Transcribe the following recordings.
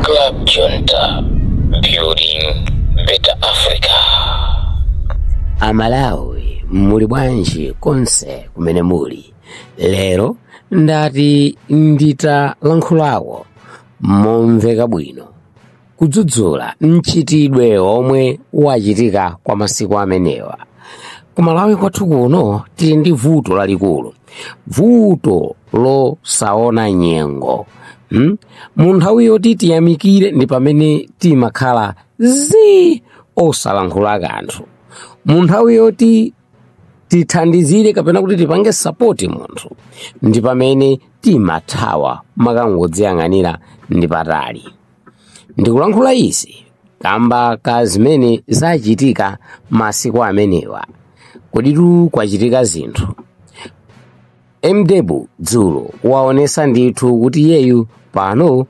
Club Junta, building better Africa. amalawi muli bwanji konse kumene muli lero ndati nditalankhulako momveka bwino kudzudzula mchitidwe omwe wachitika kwa masiku amenewa kumalawi kwathu kuno tili ndi vuto lalikulu vuto losaona nyengo hmm? mu nthawi yoti tiyamikire ndi pamene timakhala zi osalankhula kanthu mu nthawi yoti tithandizire kapena kuti tipange sapoti munthu ndi pamene timathawa n'kumangodziyang'anira ndi patali Ndikulankhula izi kamba ka zimene zachitika masiku amenewa. Kodi tu kwachitika zinthu. MDebu dzulo waonesa ndithu kuti iyeyu pano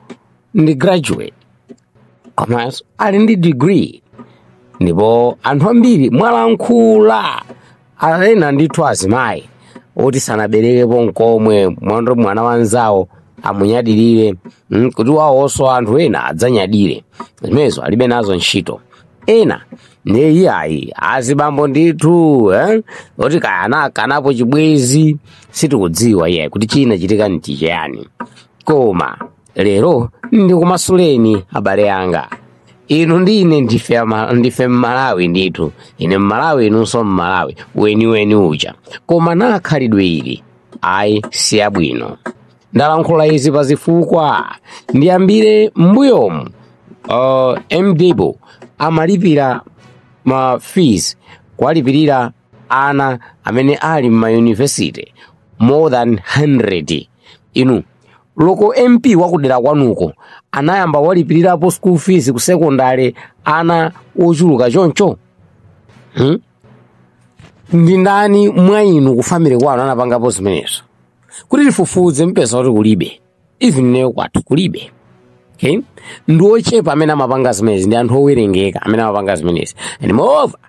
ndi graduate komanso ali ndi degree ndipo anthu ambiri mwalankhula ena ndithu azimayi oti sanaberekepo nkomwe mwendo mwana wanzawo amunyadirire mm, kuti wawonso anthu ena adzanyadire zimenezo alibe nazo ntchito ena ndiye iyayi azibambo ndithu eh? oti kaya anakanapo chibwezi sitikudziwa iyayi kuti chinachitika ndi chiyani koma lero ndikumasuleni abale anga inu ndi ine ndife ama- ndife mmalawi ndithu ine mmalawi inunso mmalawi weniweni uja koma na khalidwe ili ayi silabwino ndalankhula izi pa zifukwa ndiyambire m'mbuyomu uh, mdibo amalipira ma fees kuwalipirira ana amene ali m'mayunivesite more than 100 inu loko mp wakudera kwanuko anayamba walipirirapo school fees ku sekondale ana ochuluka choncho hmm? ndi ndani mwa inu ku family kwanu anapangapo zimenezo kuti tifufuze mpeza kuti kulibe even ineyo kwathu kulibe okay ndi ochepa amene amapanga zimenezi ndi anthu owerengeka amene amapanga zimenezi and moreover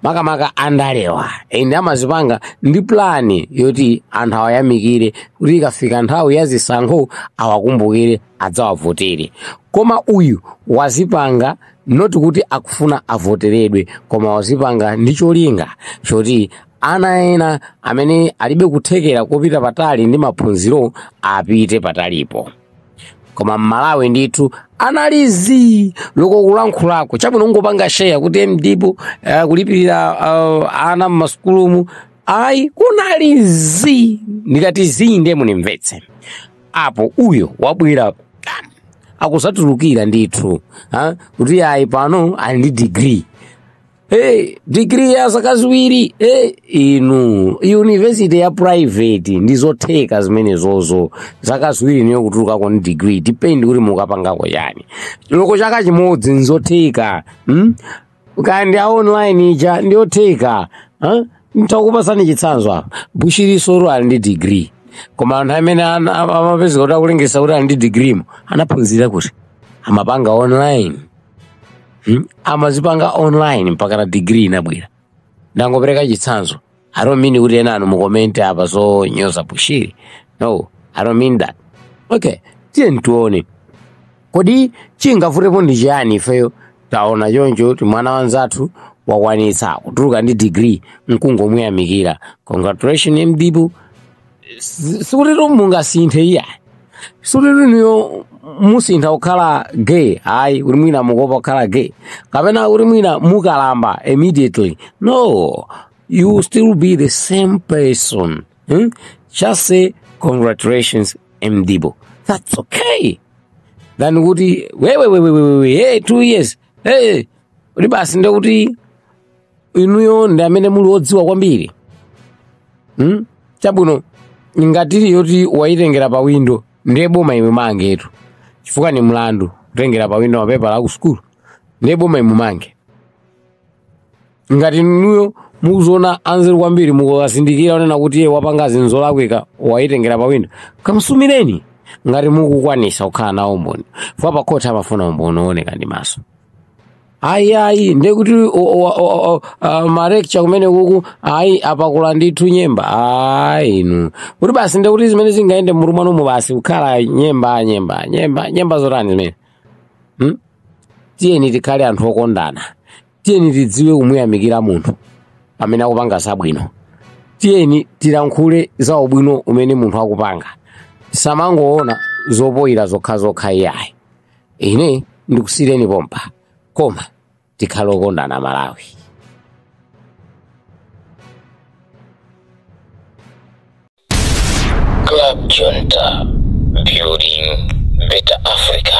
makamaka andalewa ende amazipanga ndi plani yoti anthu awayamikire kuti ikafika nthawi ya zisankho awakumbukire adzawavotere koma uyu wazipanga not kuti akufuna avoteredwe koma wazipanga ndi cholinga choti ana ena amene alibe kuthekera kopita patali ndi maphunziro apite patalipo koma mmalawi ndithu anali zii loko kulankhulako chabwino kungopanga sheya kuti Mdibu uh, kulipirira uh, ana mmasukulumu ayi kunali zii ndikati zii ndiye munimvetse apo uyo wabwera pano, akuzatulukira ndithu ha? kuti ayi pano ali ndi digiri hey, digiri ya zaka ziwiri hey, inu yunivesiti ya private ndi zotheka zimenezozo zaka ziwiri niyo kutulukako ni digiri dipendi kuti mukapangako chani loko chaka chimodzi nzotheka hmm? kandi a online ija ndiyotheka huh? ntakupasani chitsanzo apa Bushiriso ali ndi digiri koma anthu amene ana- ama- amapezeka kuti akulengesa kuti ali ndi digirimo anaphunzira kuti amapanga online hmm? amazipanga online mpaka na degree inabwera ndangopereka chitsanzo i don't mean kuti enanu mukomente apa zonyoza bushiri no i don't mean that okay tiyeni tione kodi chingavutepo ndi chiyani ifeyo taona choncho kuti mwana wanzathu wakwanitsa kutuluka ndi degree nkungomuyamikira congratulation mdibu Si- sikuti mungasinthe iya sikuti inuyo musintha kukhala gay ayi kuti mwina mukuopa kukhala gay kapena kuti mwina mukalamba immediately no you will still be the same person hmm? just say congratulations Mdibu that's okay than kuti wewewewewewe hey, two years hey, kuti basi ndekuti inuyo ndi amene muli odziwa kwambiri hmm? chabwino ngati ili yoti wayitengera pa windo ndiye boma limumangetu chifukwa ni mlandu kutengera pa windo mapepala aku sukulu ndiye boma limumange ngati inuyo mukuziona anzeru kwambiri mukukazindikira onena kuti iye wapanga zinthu zolakwika wayitengera pa windo kamsumireni ngati mukukwanisa kukhala nawo umboni fwa pa khoti amafuna umboni wooneka ndi maso ayi ayi ndekuti malekcha kumene kuku ayi apakulira ndithu nyemba ayi inu kuti basi ndekuti zimene zingayende mmutu mwanumu basi kukhala nyemba nyemba nyemba nyemba zotani zimene hmm? tiyeni tikhale anthu okondana tiyeni tidziwe kumuyamikira munthu pamene akupanga zabwino tiyeni tilankhule za ubwino umene munthu akupanga osamangoona zofoyira zokhazokha iyayi ine ndikusiyireni pompa koma tikhale okondana malawi Club Junta, building better Africa.